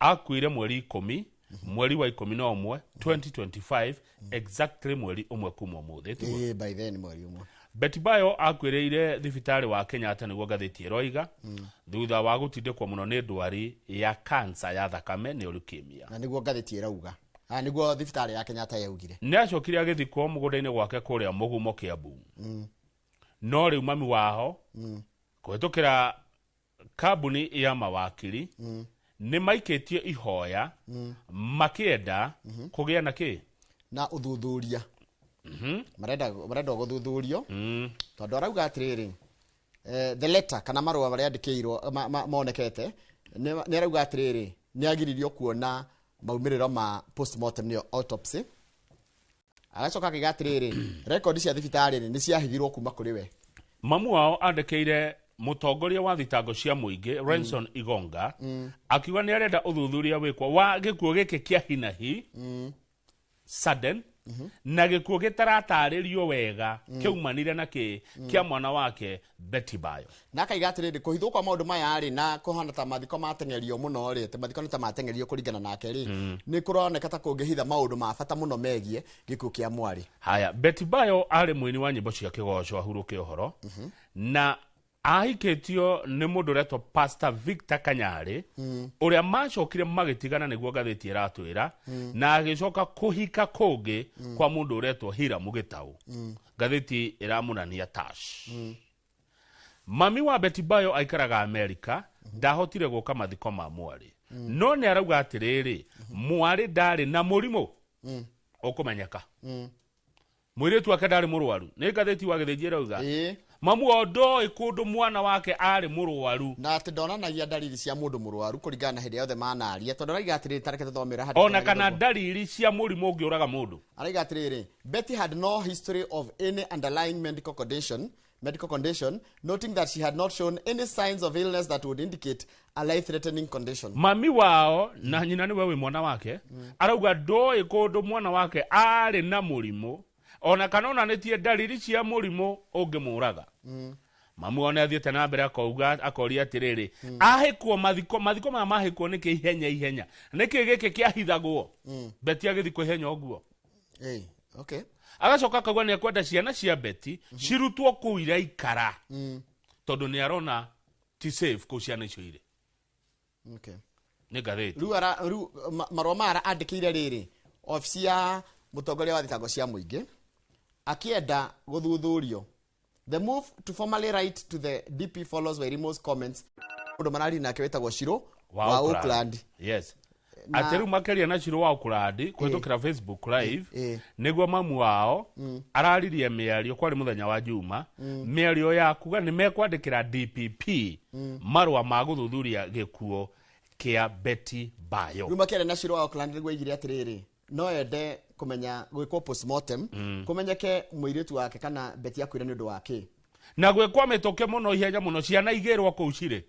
Akuire mweri ikũmi mweri wa ikũmi na ũmwe 2025 exactly mweri ũmwe kuma ũmũthĩ tiguo? Ĩĩ, by then mweri ũmwe Betibayo akuĩrĩire thibitarĩ wa Kenyatta nĩguo ngathĩti ĩroiga thutha wa gũtindĩkwo mũno nĩ ndwari ya kansa ya thakame nĩ leukemia. na nĩguo ngathĩti ĩrauga Ah, nĩguo thibitarĩ ya kenyatta yaugire Nĩ acokire agĩthikwo mũgũnda-inĩ gwake kũrĩa mũgumo Kiambu. No rĩu mami waho kũhĩtũkĩra Kambuni ya mawakiri mm. nĩ maikĩtio ihoya mm. makĩenda mm -hmm. kũgĩa na kĩ na ũthuthuria mm -hmm. marenda marenda gũthuthurio mm. tondũ arauga atĩrĩrĩ eh, the letter kana marũa marĩa andĩkĩirwo ma, ma, monekete nĩ arauga atĩrĩrĩ nĩ agiririo kuona maumĩrĩro ma postmortem nĩyo autopsy agacoka akiga atiriri rekondi cia thibitarä nä ciahithirwo kuma kå rä we mamu wao andekeire mutongoria wa thitango cia muingi Renson mm. Igonga mm. akiuga ni arenda uthuthuria wikwa wa gikuo giki kia hinahi mm. sudden mm -hmm. na gikuo gitaratarĩrio wega mm. kiaumanire na ki mm. kia mwana wake Betty Bayo. na akaiga atĩrĩ ndĩ kũhithwo kwa maũndũ maya rĩ na kũhana ta mathiko matengerio mũno rĩ atĩ mathiko nĩ ta matengerio kũringana nake rĩ nĩ kũroneka ta kũngĩhitha maũndũ ma bata mũno megiĩ gĩkuũ kĩa mwarĩ haya Betty Bayo arĩ mũini wa nyĩmbo cia kĩgoco ahurũke ũhoro na ahikĩtio nĩ mũndũ ũretwo Pastor Victor Kanyarĩ ũrĩa macokire magĩtigana nĩguo ngathĩti ĩratwĩra na agĩcoka kũhika kũngĩ kwa mũndũ ũretwo Hira Mũgĩtaũ ngathĩti ĩramunania tash mami wa betibayo aikaraga amerika ndahotire gũka mathiko ma mwarĩ no nĩ arauga atĩrĩrĩ mwarĩ ndarĩ na mũrimũ ũkũmenyeka mwĩrĩtu wake ndarĩ mũrwaru nĩ ngathĩti wa gĩthĩnji ĩrauga Ĩĩ. mamu o ndoĩ kũndũ mwana wake arĩ mũrwaru na atä ndonanagia ndariri cia må ndå må rwaru kå ringana na hä ndä yothe manaria tondå araiga atä rä rä tareke tå thomera ona kana ndariri cia mũrimũ ũngĩũraga mũndũ araiga atä rä rä Betty had no history of any underlying medical condition, medical condition, noting that she had not shown any signs of illness that would indicate a life-threatening condition. mami wao na nyina nĩwe wĩ mwana wake arauga ndoĩ kũndũ mwana wake arĩ na mũrimũ ona kana onanĩtie ndariri cia mũrimũ ũngĩmũraga mamu one athiĩte na mbere akauga akoria atĩrĩrĩ ahĩkwo mathiko mathiko maya mahĩkwo nĩkĩ ihenya ihenya nĩkĩ gĩkĩ kĩahithagwo beti agĩthikwo ihenya ũguo Hey, okay. agacoka akauga nä akwenda ciana cia beti cirutwo kå u iraikara Mm, tondå nä arona ti safe kå u ciana icio irä okay. nä ngathä Rĩu ara- rĩu ma- marũa maya ara- andĩkĩire rĩrĩ obici ya mũtongoria wa thitango cia mũingĩ akĩenda gũthuthurio The move to formally write to the DP follows Wairimu's comments. Mũndũ marari nake wĩtagwo Shiro wa wa Oakland. Oakland. yes Na- atĩ rĩu makĩria na ciro wa ũkũrandi kũhĩtũkĩra facebook live Eh, eh. nĩguo mamu wao araririe mĩario kwarĩ mũthenya wa juma mĩario ya kuga nĩ mekwandĩkĩra dpp marũa ma gũthuthuria gĩkuo kĩa beti bayo Rĩu makĩaria na Shiro wa Oakland nĩguo aigire atĩrĩrĩ. no ende kũmenya gwĩkwo postmortem mm. kũmenyeke mũirĩtu wake kana beti akwĩra nĩ ũndũ wake na gwĩkwa mĩtũkĩ mũno ihenya mũno ciana igĩrwo kũu cirĩ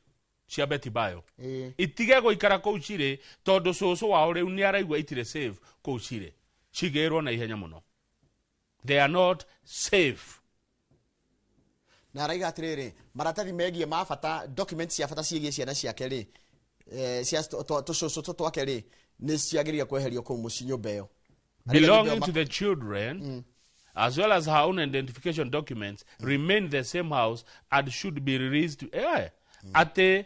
cia beti bayo Ĩĩ. itige gũikara kũu cirĩ tondũ cũcũ wao rĩu nĩ araigua itirĩ save kũu cirĩ cigĩrwo na ihenya mũno they are not safe na araiga atiriri maratathi megie ma bata documents cia bata ciĩgiĩ ciana ciake rĩ eh, cia tũ- tũ- tũcũcũ tũ twake rĩ nĩ ciagĩrĩire kweherio kũu mũciĩ nyũmba ĩyo Araiga nĩ belonging ndĩo to the children as well as her own identification documents remain in the same house and should be released to eh, ate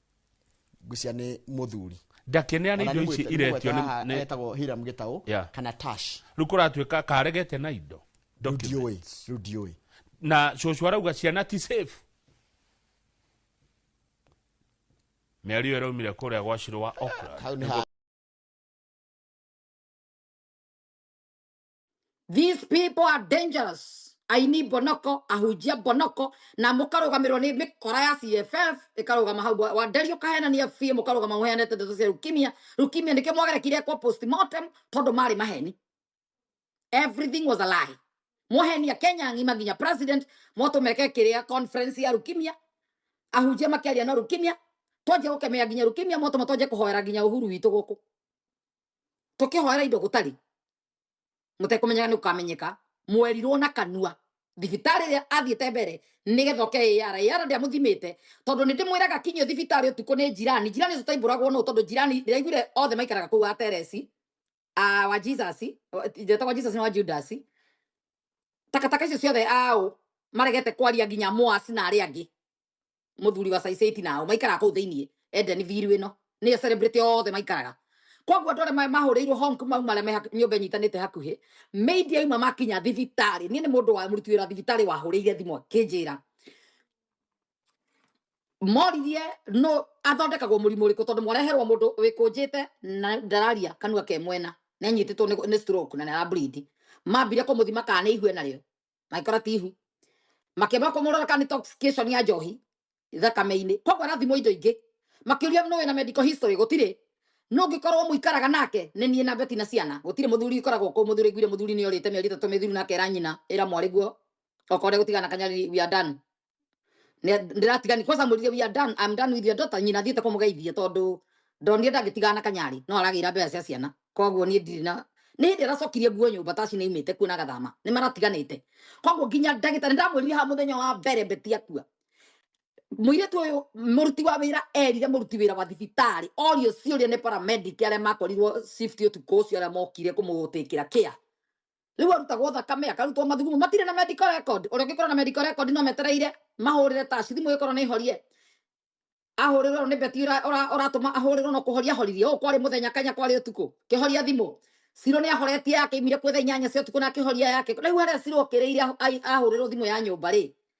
ngwĩcia nĩ mũthuri ndakenea nĩ indo ici iretio etagwo hiram gĩtaũ kana tash rĩu kũratuĩka karegete na indo ndiũĩ rĩu ndiũĩ na cũcũ arauga ciana ti safe mĩario ĩraumire kũrĩa gwa cirwa okra These people are dangerous. Aini bonoko, ahujia bonoko, na mũkarũgamĩrĩrwo nĩ mĩkora ya CFF, ĩkarũgama hau wa- wanderio kahenania biũ, mũkarũgama mũheanĩte ndeto cia leukemia. Leukemia nĩkĩo mwagerekire kwa postmortem tondũ marĩ maheni. Everything was a lie. Mohenia Kenya ng'ima nginya president motũmeke kĩrĩa conference ya leukemia ahunjia makĩaria no leukemia twanjia gũkemea nginya leukemia motũma twanjia kũhoera nginya ũhuru witũ gũkũ tũkĩhoera indo gũtarĩ mũtekũmenyeka nĩ ũkamenyeka mwerirwo na kanua thibitarĩ ĩrĩa athiĩte mbere nĩgetha oke ĩyara ĩyara ndĩamũthimĩte tondũ nĩ ndĩmwĩraga kinyio thibitarĩ ũtukũ nĩ njirani njirani ũcio taimbũragwo nũ tondũ njirani ndĩraiguire othe maikaraga kũu a teresi a wa jesus njetagwa jesus nĩ wa judas takataka icio ciothe aũ maregete kwaria nginya moasi na arĩa angĩ muthuri wa saiceti nao maikaraga kũu thĩinĩ edeni thiru ĩno nĩyo celebrity othe maikaraga koguo andũ arĩa ma- mahũrĩirwo home kuma uma arĩa me haku- nyũmba ĩnyitanĩte hakuhĩ maid yauma makinya thibitarĩ niĩ nĩ mũndũ wa mũruti wĩra thibitarĩ wahũrĩire thimũ akĩnjĩra moririe no athondekagwo mũrimũ ũrĩkũ tondũ mwareherwo mũndũ wĩkũnjĩte na ndararia kanua ke mwena nĩanyitĩtwo nĩ nĩ stroke na nĩarableed mambire kũmũthima kana nĩ ihue narĩo maikora tihu makĩamba kũmũrora kana intoxication ya njohi thakame-inĩ koguo arathimwo indo ingĩ makĩũria nũ wĩna medical history gũtirĩ no ngĩkorwo mũikaraga nake nĩ niĩ na beti na ciana gũtirĩ mũthuri ikoragwo kũ mũthuri aiguire mũthuri nĩ orĩte mĩeri ĩtatũ mĩthiru nake era nyina era mwarĩguo okorwo gũtigana kanyariri we are done Nĩ- ndĩratigani kwanza mũrire we are done I'm done with your daughter nyina thiĩte kũmũgeithia tondũ ndonire ndangĩtigana na kanyarĩ no aragĩra mbeca cia ciana koguo niĩ ndirĩ na nĩ hĩndĩ aracokirie nguo nyũmba taci nĩ imĩte kuo na gathama nĩ maratiganĩte koguo nginya ndagĩtarĩ ndamwĩrire ha mũthenya wa mbere beti akua mũirĩtu ũyũ mũruti wa wĩra erire mũruti wĩra wa thibitarĩ orio ciũria nĩ paramedic arĩa makorirwo shift ũtukũ ũcio arĩa mokire kũmũtĩkĩra kĩa rĩu arutagwo thakame akarutwo mathugumo matirĩ na medical record ũrĩa ũngĩkorwo na medical record no metereire mahũrĩre taci thimũ ĩkorwo nĩ horie ahũrĩrwo nĩ beti ũra- ũra- ũratũma ahũrĩrwo no kũhoria ahoririe ũũ kwarĩ mũthenya kanya kwarĩ ũtukũ kĩhoria thimũ ciro nĩ ahoretie yake imire kwetha inyanya cia ũtukũ na akĩhoria yake rĩu harĩa ciro ũkĩrĩire ahu- ai- ahũrĩrwo thimũ ya nyũmba rĩ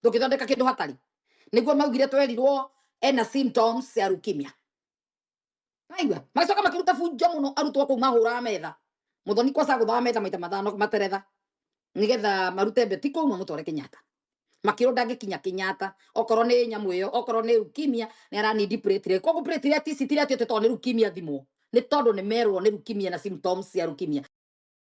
ndũngĩthondeka kĩndũ hatarĩ nĩguo maugire twerirwo ena symptoms ya leukemia aigua magacoka makĩruta bunjo mũno arutwo kũu mahũraga metha mũthoni kwaca gũthaga metha maita mathano materetha nĩgetha marute mbeti kũu mamũtware kenyatta makĩrwo ndangĩkinya kenyatta okorwo nĩ nyamũ ĩyo okorwo nĩ leukemia nĩ aranindi platelet koguo platelet ici tirati atĩ tondũ nĩ leukemia thimwo nĩ tondũ nĩ merwo nĩ leukemia na symptoms cia leukemia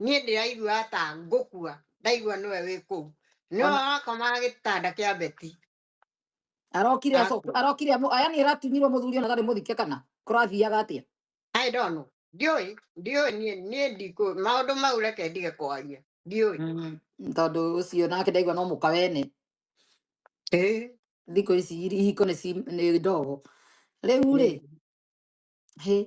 niä ndä raigua ta ngå kua ndaigua nä we wä kå u nä Ona- wakomaga gä tanda kä a beti arokire Aku. acoka arokire amu aya ni aratunyirwo muthuri ona ndari muthike kana kurathiaga atia I don't know. Ndiũĩ, ndiũĩ niĩ niĩ ndikũ maũndũ mau reke ndige kwaria. Ndiũĩ. Mm, tondu ucio nake ndaigua no muka wene Ĩĩ. thikå ici ihiko nä ndogo rä u rä Mm. hä